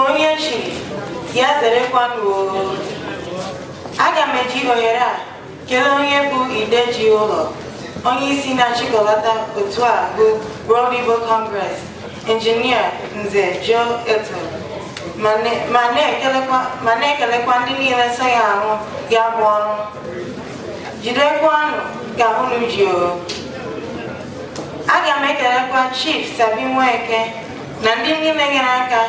onye chiri ya zerekwanụ oo. aga m eji ohere a kelee onye bụ ide ji ụlọ onye isi na-achịkọlata otu a bụ World Igbo Congress injinia nze Joe Eto ma ne- ma na-ekelekwa ma na-ekelekwa ndị niile so ya arụ ya bụ ọrụ jidekwanụ ka unu ji oo aga m ekelekwa Chief Sabi Nweke na ndị niile nyere aka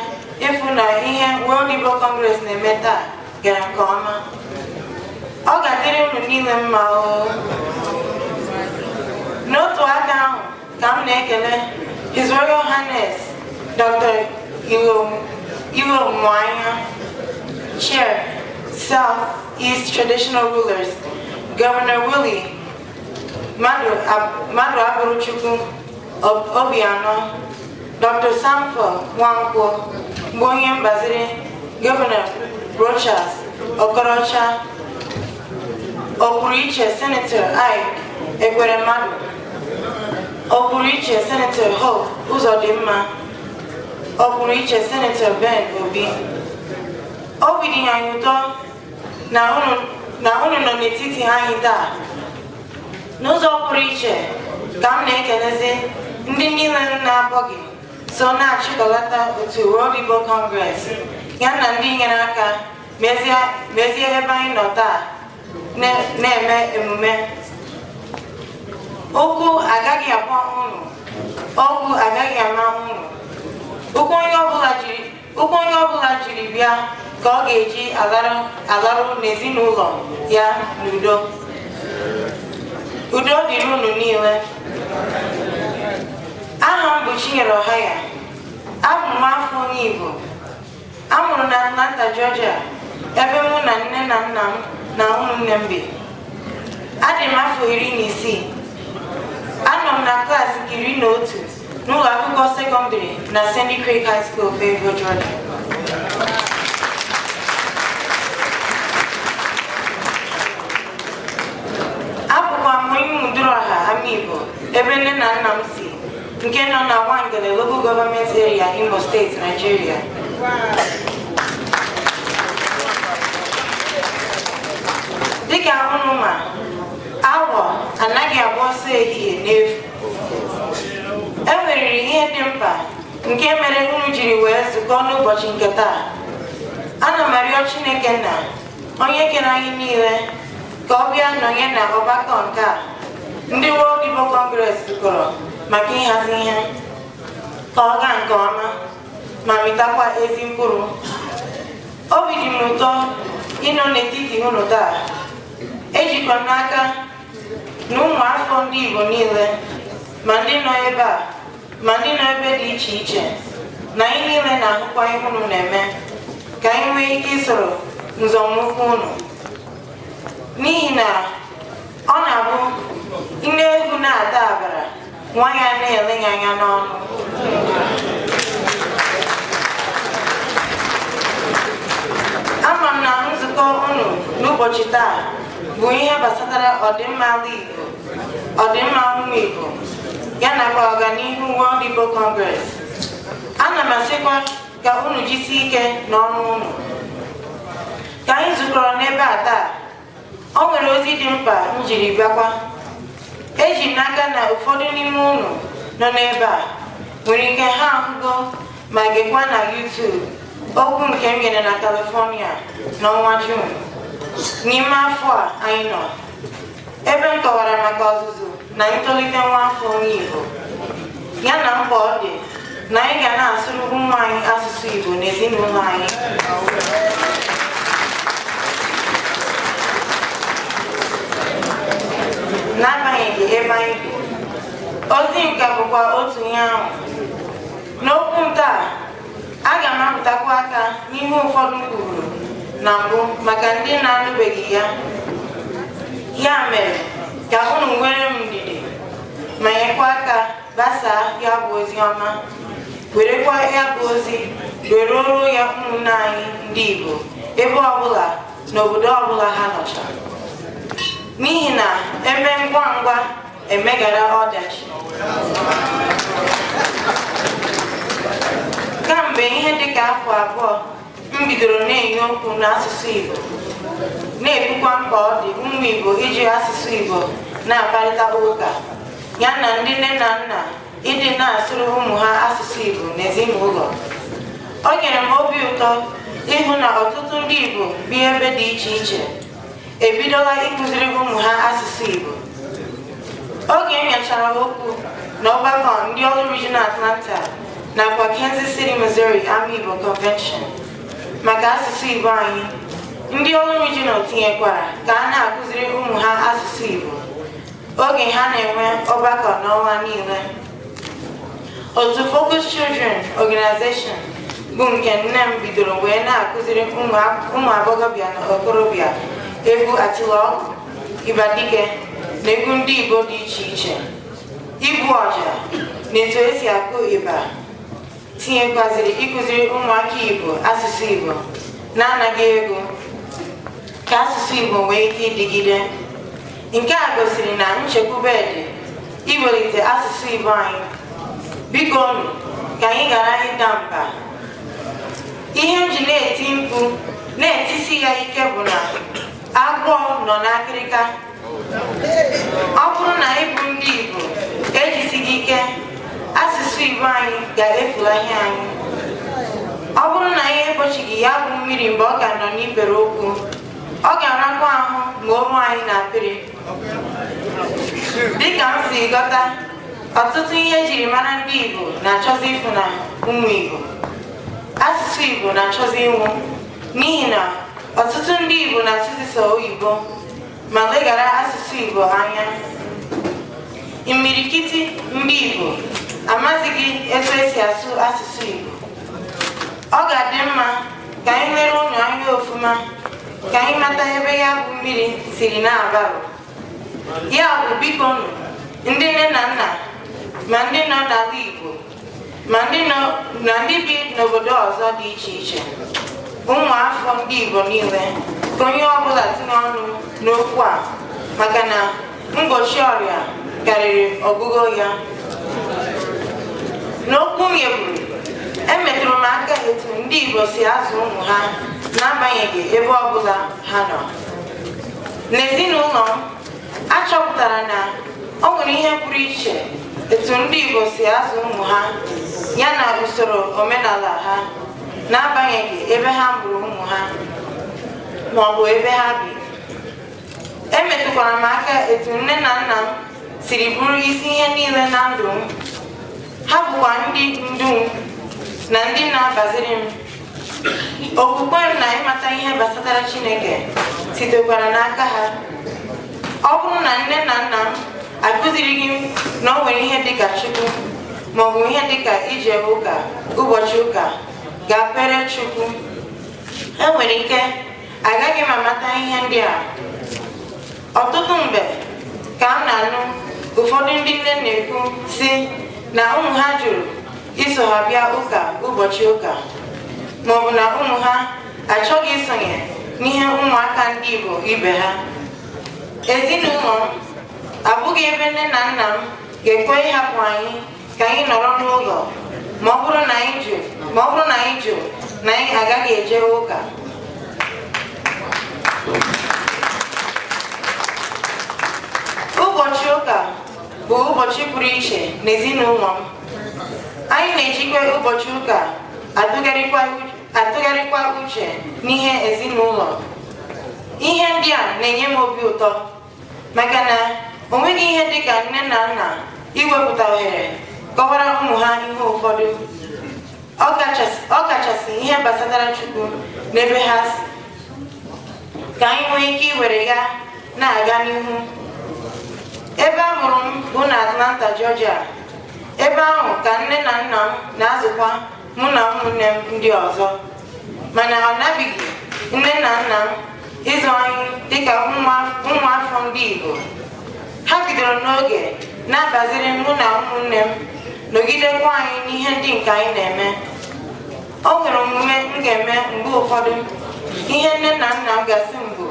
ịfụ na ihe World Igbo Congress na-eme taa gara nke ọma ọ ga-adịrị unu niile mma o n'otu aka ahụ ka m na-ekele His Royal Highness Dr. Ilomuanya Chair South East Traditional Rulers Governor Willie Maduaburochukwu Obiano Dr. Samfo Nwankwo bụ onye mgbaziri gọvanọ Rochas Okorocha ọpụrụ iche senetọ Ike Ekweremadu ọpụrụ iche senetọ Hope Uzodimma ọpụrụ iche senetọ Ben Obi obi dị anyị ụtọ na unu nọ n'etiti anyị taa n'ụzọ pụrụ iche ka m na-ekelezi ndị niile m na-akpọghị so na-achịkọlata otu World Igbo Congress ya na ndị nyere aka mezie mezie ebe anyị nọ taa na- na-eme emume ọkụ agaghị agba unu ogwu agaghị ama unu ụkwụ onye ọbụla jiri Ụkwụ onye ọbụla jiri bịa ka ọ ga-eji alaru n'ezinụlọ ya n'udo. Udo dịrị unu niile. Aha m bụ Chinyere Ọhaya. Abụ m afọ onye Igbo a mụrụ na Atlanta, Georgia, ebe mụ na nne na nna m na ụmụnne m bi. Adị m afọ iri na isii. Anọ m na klaasị nke iri na otu n'ụlọ akwụkwọ sekọndịrị na Sandy Creek High School Fayetteville, Georgia. abụkwa m onye Umuduruọha Amaigbo ebe nne na nna m si nke nọ na Nwangele Local Government Area Imo State, Nigeria. dịka unu ma awọ anaghị agba ọsọ ehihie n'efu e nweriri ihe dị mkpa nke mere unu jiri wee zukọ n'ụbọchị nke taa ana m arịọ chineke nna onye kere anyị niile ka ọ bịa nọnye na ọgbakọ nke a ndị World Igbo Congress zukọrọ maka ịhazi ihe ka ọ gaa nke ọma ma mịtakwa ezi mkpụrụ obi dị m ụtọ ịnọ n'etiti unu taa ejikwa m n'aka na ụmụafọ ndị Igbo niile ma ndị nọ ebe a ma ndị nọ ebe dị iche iche na anyị niile na-ahụkwa ihe unu na-eme ka anyị nwee ike isoro nzọmụkwụ unu n'ihi na ọ na-abụ nne ewu na-ata agbara nwa ya na-ele ya anya n'ọnụ ama m na nzukọ unu n'ụbọchị taa bụ ihe gbasatara ọdịmma ala Igbo ọdịmma ụmụ Igbo ya nakwa ọganihu World Igbo Congress ana m asịkwa ka unu jisie ike n'ọrụ unu ka anyị zukọrọ n'ebe a taa o nwere ozi dị mkpa m jiri bịakwa eji m n'aka na ụfọdụ n'ime unu nọ n'ebe a nwere ike ha ahụgo ma gekwa na YouTube okwu nke m nyere na California n'ọnwa Jun n'ime afọ a anyị nọ ebe m kọwara maka ọzụzụ na ntolite nwaafọ onye Igbo ya na mkpa ọ dị na anyị ga na-asụrụ ụmụ anyị asụsụ Igbo n'ezinụlọ anyị n'agbanyeghị ebe anyị bi ozi m ka bụkwa otu ihe ahụ n'okwu nke a aga m arụtụkwu aka n'ihe ụfọdụ m kwuru na mbụ maka ndị na-anụbeghị ya ya mere ka unu nweere m ndidi ma nyekwa aka gbasaa ya bụ ozi ọma werekwa ya bụ ozi were ruo ya ụmụnne anyị ndị Igbo ebe ọbụla na obodo ọbụla ha nọcha n'ihi na eme ngwa ngwa emeghara ọdachi kamgbe ihe dịka afọ abụọ m bidoro na-enye okwu n'asụsụ Igbo na-ekwukwa mkpa ọ dị ụmụ Igbo iji asụsụ Igbo na-akparịta ụka ya na ndị nne na nna ịdị na-asụrụ ụmụ ha asụsụ Igbo n'ezinụlọ o nyere m obi ụtọ ịhụ na ọtụtụ ndị Igbo bi ebe dị iche iche e bidola ịkụziri ụmụ ha asụsụ Igbo oge e nyechara okwu na ọgbakọ ndị Orlu Regional Atlanta nakwa Kansas City, Missouri Amaigbo Convention maka asụsụ Igbo anyị ndị Orlu Regional tinyekwara ka a na-akụziri ụmụ ha asụsụ Igbo oge ha na-enwe ọgbakọ n'ọnwa niile otu Focus Children Organization bụ nke nne m bidoro wee na-akụziri ụmụ a- ụmụ agbọghọbịa na okorobịa egwu atịlọgwụ ịgba dike na egwu ndị Igbo dị iche iche igbu ọja na etu esi akụ ịgba tinyekwaziri ịkụziri ụmụaka Igbo asụsụ Igbo n'anaghị ego ka asụsụ Igbo nwee ike ịdịgide nke a gosiri na nchekwube dị iwelite asụsụ Igbo anyị biko nụ ka anyị ghara ịda mba ihe m ji na-eti mkpu na-etisi ya ike bụ na agwọ nọ n'akịrịka ọ bụrụ na anyị bụ ndị Igbo ejisighị ike asụsụ Igbo anyị ga-efulahi anyị ọ bụrụ na anyị egbochighị ya bụ mmiri mgbe ọ ka nọ n'ikpere ụkwụ ọ ga-arakwa ahụ ma o ruo anyị na akpịrị dịka m si ghọta ọtụtụ ihe e jiri mara ndị Igbo na-achọzi ifu na ụmụ Igbo asụsụ Igbo na-achọzi ịnwụ n'ihi na ọtụtụ ndị Igbo na-asụzi sọ oyibo ma leghara asụsụ Igbo anya imirikiti ndị Igbo amazighị etu esi asụ asụsụ Igbo ọ ga-adị mma ka anyị lere ụlọ anya ofuma ka anyị mata ebe ya bụ mmiri siri na-abarụ ya bụ biko nụ ndị nne na nna ma ndị nọ n'ala Igbo ma ndị nọ na ndị bi n'obodo ọzọ dị iche iche ụmụafọ ndị Igbo niile ka onye ọbụla tinye ọnụ n'okwu a maka na mgbochi ọrịa karịrị ọgwụgwọ ya n'okwu m nyeburu emetụrụ m aka etu ndị Igbo si azụ ụmụ ha n'agbanyeghị ebe ọbụla ha nọ n'ezinụlọ m a chọpụtara na o nwere ihe pụrụ iche etu ndị Igbo si azụ ụmụ ha ya na usoro omenala ha n'agbanyeghị ebe ha mụrụ ụmụ ha ma ọ bụ ebe ha bi emetụkwara m aka etu nne na nna m siri bụrụ isi ihe niile na ndụ m ha bụkwa ndị ndu m na ndị na-agbaziri m okwukwe na ịmata ihe gbasatara chineke sitekwara n'aka ha ọ bụrụ na nne na nna m akụzirighị na o nwere ihe dịka chukwu maọbụ ihe dịka ije ụka ụbọchị ụka gaa kpere chukwu enwere ike agaghị m amata ihe ndị a ọtụtụ mgbe ka m na-anụ ụfọdụ ndị nne na-ekwu si na ụmụ ha jụrụ iso ha bịa ụka ụbọchị ụka maọbụ na ụmụ ha achọghị isonye n'ihe ụmụaka ndị Igbo ibe ha ezinụlọ m abụghị ebe nne na nna m ga-ekwe ịhapụ anyị ka anyị nọrọ n'ụlọ ma ọ bụrụ na anyị jụ ma ọ bụrụ na anyị jụ na anyị agaghị eje ụka ụbọchị ụka bụ ụbọchị pụrụ iche n'ezinụlọ m anyị na-ejikwa ụbọchị ụka atụgharịkwa uche- atụgharịkwa uche n'ihe ezinụlọ ihe ndị a na-enye m obi ụtọ maka na o nweghị ihe dị ka nne na nna iwepụta ohere kọwara ụmụ ha ihe ụfọdụ ọ kachasị ọ kachasị ihe gbasatara Chukwu n'ebe ha si ka anyị nwee ike iwere ya na-aga n'ihu ebe a mụrụ m bụ na Atlanta Georgia ebe ahụ ka nne na nna m na-azụkwa mụ na ụmụnne m ndị ọzọ mana ha anabighị nne na nna m ịzụ anyị dịka ụmụafọ ndị Igbo ha bidoro n'oge na-agbaziri mụ na ụmụnne m nọgidekwa anyị n'ihe ndị nke anyị na-eme o nwere omume m ga-eme mgbe ụfọdụ ihe nne na nna m ga-asị m bụ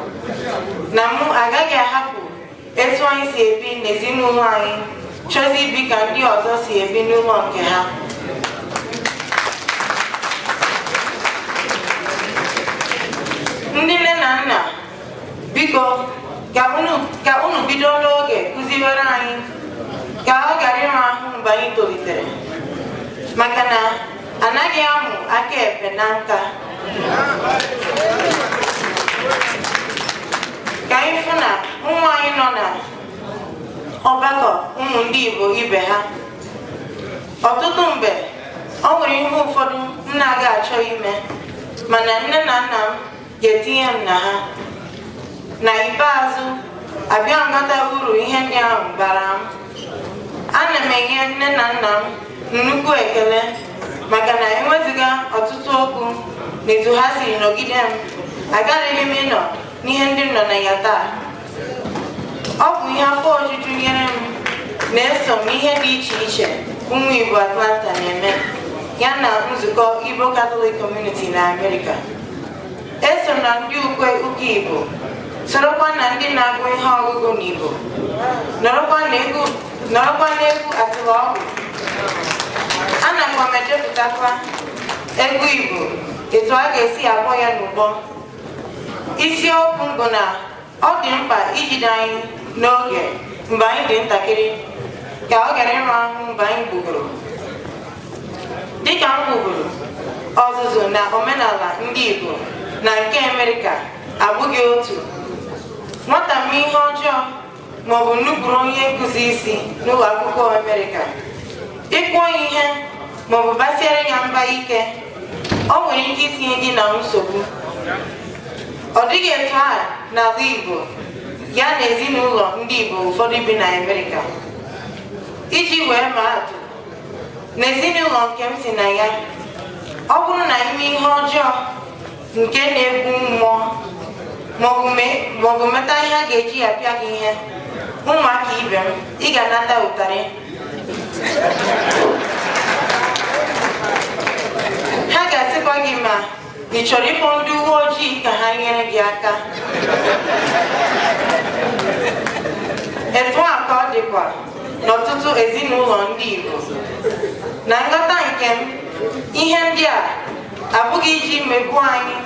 na mụ agaghị ahapụ etu anyị si ebi n'ezinụlọ anyị chọzi ibi ka ndị ọzọ si ebi n'ụlọ nke ha ndị nne na nna biko ka unu ka unu bido n'oge kụziwere anyị ka ọ ghara ịma ahụ mgbe anyị tolitere maka na anaghị amụ aka ekpe na nka ka anyị fụ na ụmụ anyị nọ na ọgbakọ ụmụ ndị Igbo ibe ha ọtụtụ mgbe o nwere ihe ụfọdụ m na-aga achọ ime mana nne na nna m ga-etinye m na ha na ikpeazụ abịa mata uru ihe ndị ahụ bara m ana m enye nne na nna m nnukwu ekele maka na ewezuga ọtụtụ okwu na etu ha si nọgide m agaraghị m ịnọ n'ihe ndị m nọ na ya taa ọ bụ ihe afọ ojuju nyere m na eso m ihe dị iche iche ụmụ Igbo Atlanta na-eme ya na nzukọ Igbo Catholic Community na Amerịka eso na ndị ukwe ụka Igbo sorokwa na ndị na-agụ ihe ọgụgụ n'Igbo nọrọkwa n'egwu nọrọkwa n'egwu Atịlọgwụ anakwa m edepụtakwa egwu Igbo etu a ga-esi akpọ ya n'ụbọ isiokwu bụ na ọ dị mkpa ijide anyị n'oge mgbe anyị dị ntakịrị ka ọ ghara ịra ahụ mgbe anyị gbugoro dịka m kwuburu ọzụzụ na omenala ndị Igbo na nke Amerịka abụghị otu nwata mee ihe ọjọọ ma ọ bụ nupụrụ onye nkụzi isi n'ụlọ akwụkwọ Amerịka ị kụọ ya ihe ma ọ bụ basiere ya mba ike o nwere ike itinye gị na nsogbu ọ dịghị etu a n'ala Igbo ya na ezinụlọ ndị Igbo ụfọdụ bi na Amerịka iji wee ma atụ na ezinụlọ nke m si na ya ọ bụrụ na i mee ihe ọjọọ nke na-egbu mmụọ maọbụ me- maọbụ meta ihe a ga-eji ya pịa gị ihe ụmụaka ibe m ị ga-anata ụtarị ha ga-asịkwa gị ma ị chọrọ ịkpọ ndị uwe ojii ka ha nyere gị aka etu a ka ọ dịkwa n'ọtụtụ ezinụlọ ndị Igbo na nghọta nke m ihe ndị a abụghị iji megbuo anyị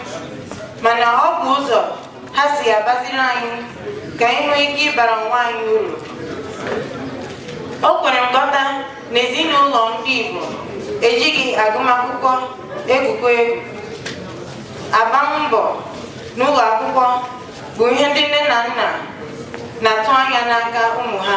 mana ọ bụ ụzọ ha si agbaziri anyị ka anyị nwee ike ịbara onwe anyị uru o kwere nghọta na ezinụlọ ndị Igbo ejighị agụmakwụkwọ egwukọ egwu agbam mbọ n'ụlọ akwụkwọ bụ ihe ndị nne na nna na-atụ anya n'aka ụmụ ha